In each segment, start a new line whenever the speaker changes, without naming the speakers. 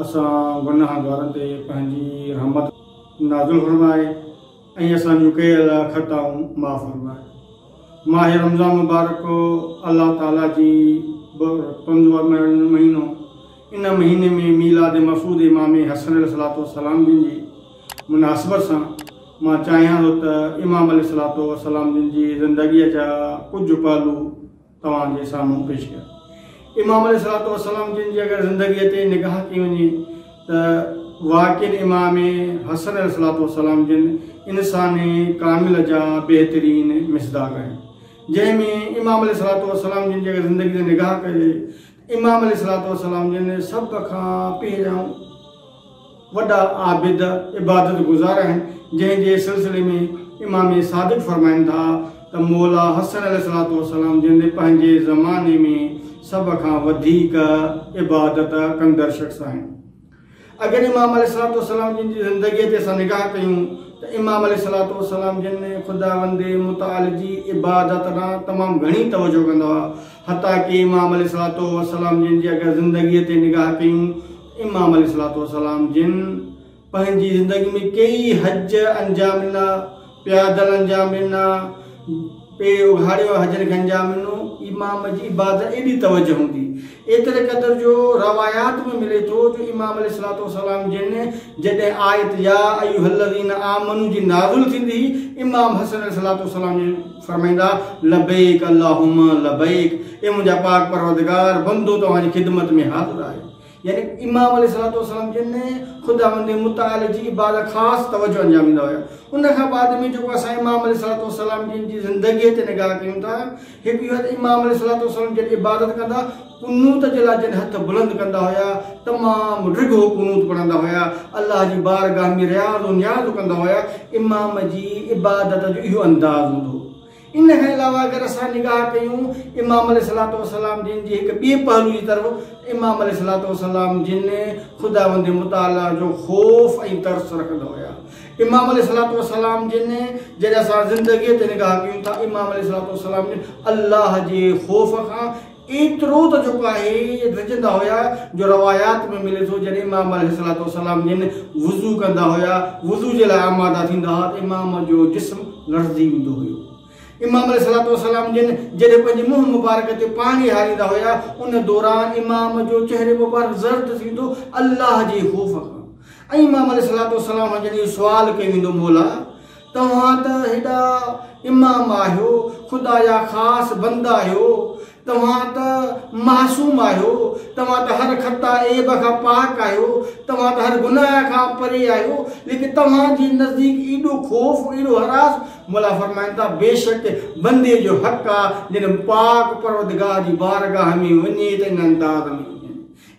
اسان گنهگارن تي پنهنجي رحمت نازل فرماء ۽ اسان جون ڪيل خطائون معاف فرماء. ماهه رمضان مبارڪ الله تعالي جي برڪتن جو مهينو، ان مهيني ۾ ميلاد مفعود امام حسن عليه الصلوة والسلام جن جي مناسبت سان مان چاهيان ٿو ته امام عليه الصلوة والسلام جن جي زندگيء جا ڪجهه پهلو توهان جي سامهون پيش ڪيا. امام عليه الصلوة والسلام جن جي اگر زندگيء تي نگاهه ڪئي وڃي ته واقعن امام حسن عليه الصلوة والسلام جن انسان ڪامل جا بهترين مصداق آهن جنهن ۾ امام عليه الصلوة والسلام جن جي اگر زندگيء تي نگاهه ڪجي امام عليه الصلوة والسلام جن سڀ کان پهريائون وڏا عابد، عبادت گذار، آهن، جنهن جي سلسلي ۾ امام صادق فرمائن ٿا ته مولا حسن عليه الصلوة والسلام جن پنهنجي زماني ۾ سڀ کان وڌيڪ عبادت ڪندڙ شخص آهن. اگر امام عليه الصلوة والسلام جن جي زندگيء تي اسان نگاهه ڪيون ته امام عليه الصلوة والسلام جن خداوند متعال جي عبادت ڏانهن تمام گهڻي توجهه ڪندا هئا حتيٰ ڪي امام عليه الصلوة والسلام جن جي اگر زندگيء تي نگاهه ڪيون ته امام عليه الصلوة والسلام جن پنهنجي زندگي ۾ ڪيئي حج انجام ڏنا پيا دلن جا مينا، پئي اگهاڙيو حجر گن جا مينو، امام جي عبادت ايڏي توجه هوندي، ايتري قدر جو روايات ۾ ملي ٿو جو امام عليه الصلوة والسلام جن جڏهن آيت يا ايها الذين آمنوا جي نازل ٿيندي هئي، امام حسن عليه الصلوة والسلام جن فرمائيندا، لبيڪ اللهم لبيڪ، اي منهنجا پاڪ پروردگار، بندو توهان جي خدمت ۾ حاضر آهي، يعني امام عليه الصلوة والسلام جن خداوند متعال جي عبادت خاص توجه انجاميندا هيا ان کان بعد ۾ جيڪو اسان امام عليه الصلوة والسلام جن جي زندگي تي نگاهه ڪيون ٿا هڪ اهو ته امام عليه الصلوة والسلام جن عبادت ڪندا قنوت جي لاء جن هٿ بلند ڪندا هيا تمام ڊگهو قنوت پڙهندا هيا الله جي بارگاهه ۾ رياض و نياز ڪندا هيا امام جي عبادت جو اهو انداز هوندو هو ان کان علاوه اگر اسان نگاهه ڪيون امام عليه صلاح وسلام جن جي هڪ ٻئي پهلو جي طرف امام عليه صلاح وسلام جن خداوند متعالي جو خوف ۽ ترس رکندا هيا امام عليه صلاح وسلام جن جڏهن اسان زندگي تي نگاهه ڪيون ٿا امام عليه صلاح وسلام جن الله جي خوف کان ايترو ته جيڪو آهي رڄندا هيا جو روايات ۾ ملي ٿو جڏهن امام عليه الصلوة والسلام جن وضو ڪندا هيا وضو جي لاء آماده ٿيندا هئا ته امام جو جسم لرزي ويندو هيو امام عليه الصلوة والسلام جن جڏهن پنهنجي منهن مبارڪ تي پاڻي هاريندا هيا ان دوران امام جو چهري مبارڪ زرد ٿيندو الله جي خوف کان ۽ امام عليه الصلوة والسلام کان جڏهن اهو سوال ڪيو ويندو مولا توهان ته هيڏا امام آهيو، خدا جا خاص بند آهيو، توهان ته معصوم آهيو، توهان ته هر خطا عيب کان پاڪ آهيو، توهان ته هر گناهه کان پري آهيو، ليڪن توهان جي نزديڪ ايڏو خوف، ايڏو هراس، مولا فرمائن ٿا، بيشڪ بندي جو حق آهي جڏهن پاڪ پروردگار جي بارگاهه ۾ وڃي ته ان انداز ۾ وڃي.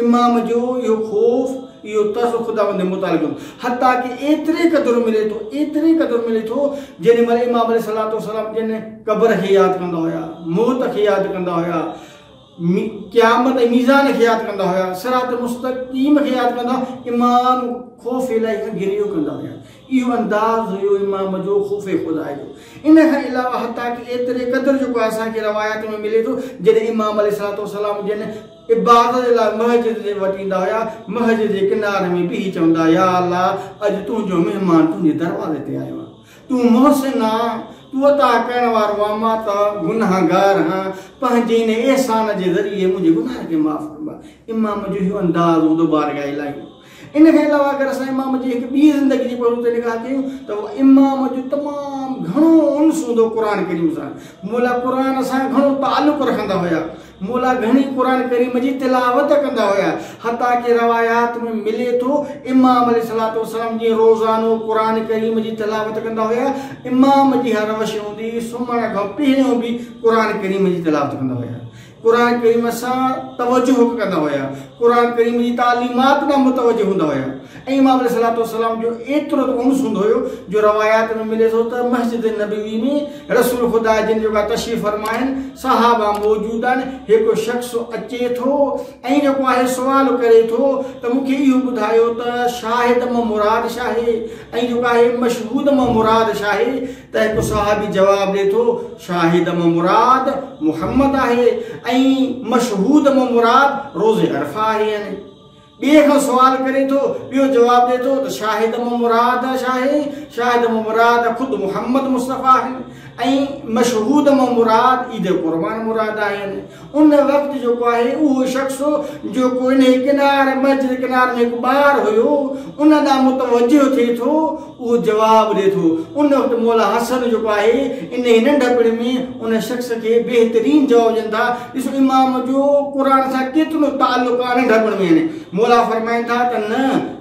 امام جو اهو خوف، اهو ترس خداوند جي مطالعي جو حتيٰ ڪي ايتري قدر ملي ٿو، ايتري قدر ملي ٿو، جيڏي مهل امام عليه الصلوة والسلام جن قبر کي ياد ڪندا هيا، موت کي ياد ڪندا هيا، قيامت ۽ ميزان کي ياد ڪندا هيا، صراط مستقيم کي ياد ڪندا هيا، امام خوف الٰهي کان گريو ڪندا هيا. اهو انداز هيو امام جو خوف خدا جو. ان کان علاوه حتيٰ ڪي ايتري قدر جيڪو اسان کي روايات ۾ ملي ٿو، جڏهن امام عليه الصلوة والسلام جن عبادت جي لاء مسجد ڏي وٽ ايندا هيا، مسجد جي ڪناري ۾ بيهي چوندا، يا الله! اڄ تنهنجو مهمان تنهنجي دروازي تي آيو آهي. تون محسن آهين، تون عطا ڪرڻ وارو آهين، مان ته گنهگار آهيان، پنهنجي ان احسان جي ذريعي منهنجي گناهن کي معاف ڪربا. امام جو اهو انداز هوندو بارگاهه الٰهي. ان کان علاوه اگر اسان امام جي هڪ ٻي زندگي جي پهلو تي نگاهه ڪيون ته امام جو تمام گهڻو انس هوندو قرآن ڪريم سان مولا قرآن سان گهڻو تعلق رکندا هيا مولا گهڻي قرآن ڪريم جي تلاوت ڪندا هيا حتيٰ ڪي روايات ۾ ملي ٿو امام علي صلاحت وسلم جي روزانو قرآن ڪريم جي تلاوت ڪندا هيا امام جي هر روشي هوندي سمهڻ کان پهريون به قرآن ڪريم جي تلاوت ڪندا هيا قرآن ڪريم سان توجه ڪندا هيا، قرآن ڪريم جي تعليمات ڏانهن متوجه هوندا هيا ۽ امام عليه الصلوة والسلام جو ايترو ته انس هوندو هيو جو روايات ۾ ملي ٿو ته مسجد نبوي ۾ رسول خدا جن جيڪا تشريف فرما آهن صحابه موجود آهن هڪ شخص اچي ٿو ۽ جيڪو آهي سوال ڪري ٿو ته مون کي اهو ٻڌايو ته شاهد مان مراد شاهي ۽ جيڪو آهي مشهود مان مراد شاهي ته هڪ صحابي جواب ڏئي ٿو، شاهد مان مراد محمد آهي ۽ مشهود مان مراد روز عرفه آهي يعني ٻئي کان سوال ڪري ٿو، ٻيو جواب ڏئي ٿو ته شاهد مان مراد شاهي شاهد مان مراد خود محمد مصطفيٰ آهي ۽ مشهود مان مراد عيد قربان مراد آهي يعني ان وقت جيڪو آهي اهو شخص جيڪو انهي ڪنار، مئچ جي ڪنار ۾ هڪ ٻار هيو، ان ڏانهن متوجه ٿئي ٿو، اهو جواب ڏئي ٿو. ان وقت مولا حسن جيڪو آهي انهي ننڍپڻ ۾ ان شخص کي بهترين جواب ڏين ٿا. ڏسو امام جو قرآن سان ڪيترو تعلق آهي ننڍپڻ ۾ يعني. مولا فرمائن ٿا ته نه!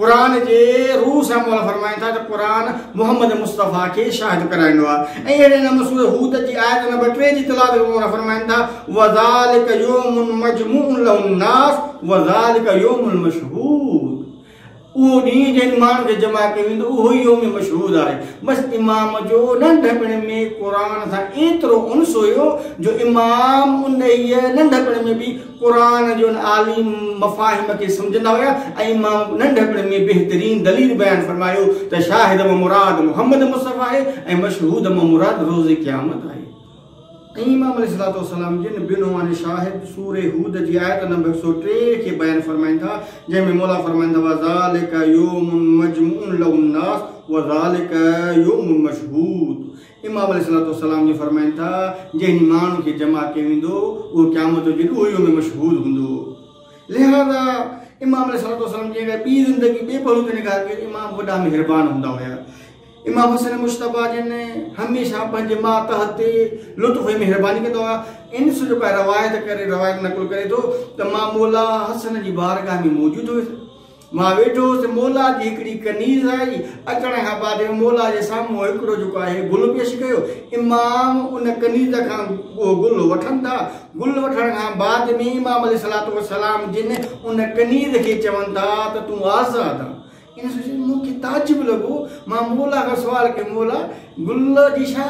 قرآن جي روح سان مولا فرمائن ٿا ته قرآن محمد مصطفيٰ کي شاهد ڪرائيندو آهي ۽ اهڙي نمون سورة هود جي آيت نمبر ٽي جي تلاوت ۾ مولا فرمائن ٿا وذلڪ يوم مجموع له الناس وذلڪ يوم المشهود اهو ڏينهن جنهن ماڻهن کي جمع ڪيو ويندو اهو ئي يوم مشهود آهي بس امام جو ننڍپڻ ۾ قرآن سان ايترو انس هيو جو امام انهيء ننڍپڻ ۾ به قرآن جون عالي مفاهيم کي سمجهندا هيا ۽ مان ننڍپڻ ۾ بهترين دليل بيان فرمايو ته شاهد مان مراد محمد مصطفي آهي ۽ مشهود مان مراد روز قيامت آهي. ۽ امام عليه الصلوة والسلام جن بعنوان شاهد سورة هود جي آيت نمبر هڪ سؤ ٽي کي بيان فرمائين ٿا جنهن ۾ مولا فرمائن ٿا وذلڪ يوم مجموع له الناس وذلڪ يوم مشهود امام عليه الصلوة والسلام جو فرمائن ٿا، جنهن ماڻهو کي جمع ڪيو ويندو، اهو قيامت جو ڏينهن ڏوهيو ۾ مشغول هوندو. لهذا امام عليه الصلوة والسلام جي اگر ٻي زندگي ٻي پهلو تي نگاهه ڪجي ته امام وڏا مهربان هوندا هيا. امام حسين مجتبيٰ جن هميشه پنهنجي ماتحت تي لطف ۽ مهرباني ڪندا هئا. انس جو ڪا روايت ڪري روايت نقل ڪري ٿو ته مان مولا حسن جي بارگاهه ۾ موجود هيس. مان ويٺو هوس ته مولا جي هڪڙي ڪنيز آئي. اچڻ کان بعد مولا جي سامهون هڪڙو جيڪو آهي گل پيش ڪيو. امام ان ڪنيز کان اهو گل وٺن ٿا. گل وٺڻ کان بعد ۾ امام عليه الصلوة والسلام جن ان ڪنيز کي چون ٿا ته تون آزاد آن. ان سوچيو مون کي تعجب لڳو. مان مولا کان سوال ڪيو مولا! گل جي ڇا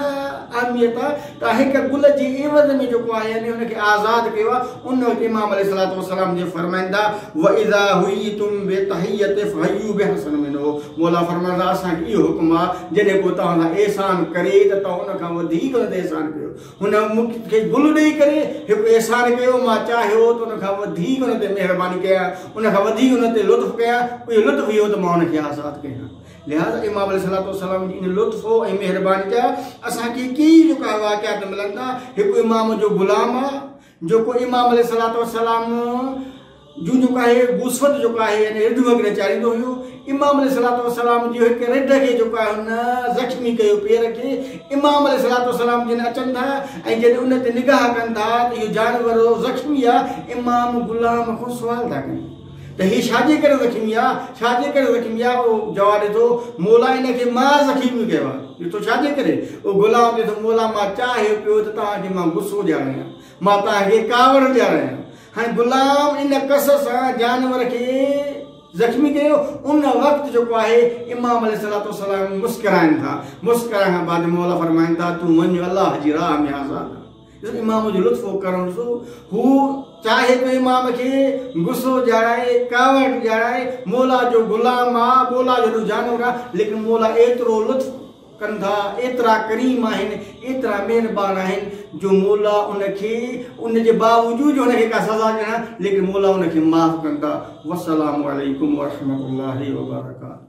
اهميت آهي ته هڪ گل جي عيوض ۾ جيڪو آهي يعني ان کي آزاد ڪيو آهي ان وقت امام عليه الصلوة والسلام جي فرمائن ٿا واذا حييتم بتحيت فحيوا بحسن منه مولا فرمان ٿا اسان کي اهو حڪم آهي جڏهن ڪو توهان سان احسان ڪري ته توهان ان کان وڌيڪ هن تي احسان ڪيو هن مون کي گل ڏيئي ڪري هڪ احسان ڪيو مان چاهيو ته ان کان وڌيڪ هن تي مهرباني ڪيان ان کان وڌيڪ هن تي لطف ڪيان اهو لطف اهو ته مان هن کي آزاد ڪيان لهٰذا امام عليه الصلوة والسلام جي ان لطف ۽ مهرباني جا اسان کي ڪيئي لڪايل واقعات ملن ٿا. هڪ امام جو غلام آهي، جيڪو امام عليه الصلوة والسلام جون جيڪو آهي وسعت جيڪو آهي يعني رڍ وغيره چاريندو هيو. امام عليه الصلوة والسلام جي هڪ رڍ کي جيڪو آهي هن زخمي ڪيو پير کي. امام عليه الصلوة والسلام جن اچن ٿا ۽ جڏهن ان تي نگاهه ڪن ٿا ته اهو جانور زخمي آهي. امام غلام کان سوال ٿا ڪن. ته هي ڇاجي ڪري زخمي آ؟ ڇاجي ڪري زخمي آ؟ او جواب ڏئي ٿو، مولا ان کي مان زخيمي ڪيو آ. ڏٺو ڇاجي ڪري؟ او غلام چئي ٿو، مولا مان چاهيو پيو ته توهان کي مان غصو ڏياريان، مان توهان کي ڪاوڙ ڏياريان. هاڻي غلام ان ڪس سان جانور کي زخمي ڪيو. ان وقت جيڪو آهي امام عليه الصلوة والسلام مسڪرائن ٿا. مسڪرائڻ کان بعد مولا فرمائن ٿا، تون وڃ الله جي راهه ۾ آزاد آهين. جڏهن امام جو لطف و ڪرم ڏسو، هو چاهي ٿو امام کي غصو ڏيارائي، ڪاوڙ ڏيارائي، مولا جو غلام آ، مولا جو هيڏو جانور آ، ليڪن مولا ايترو لطف ڪن ٿا، ايترا ڪريم آهن، ايترا مهربان آهن، جو مولا ان کي ان جي باوجود جو هن کي ڪا سزا ڏيڻا، ليڪن مولا ان کي معاف ڪن ٿا. والسلام عليڪم ورحمة الله وبرڪاته.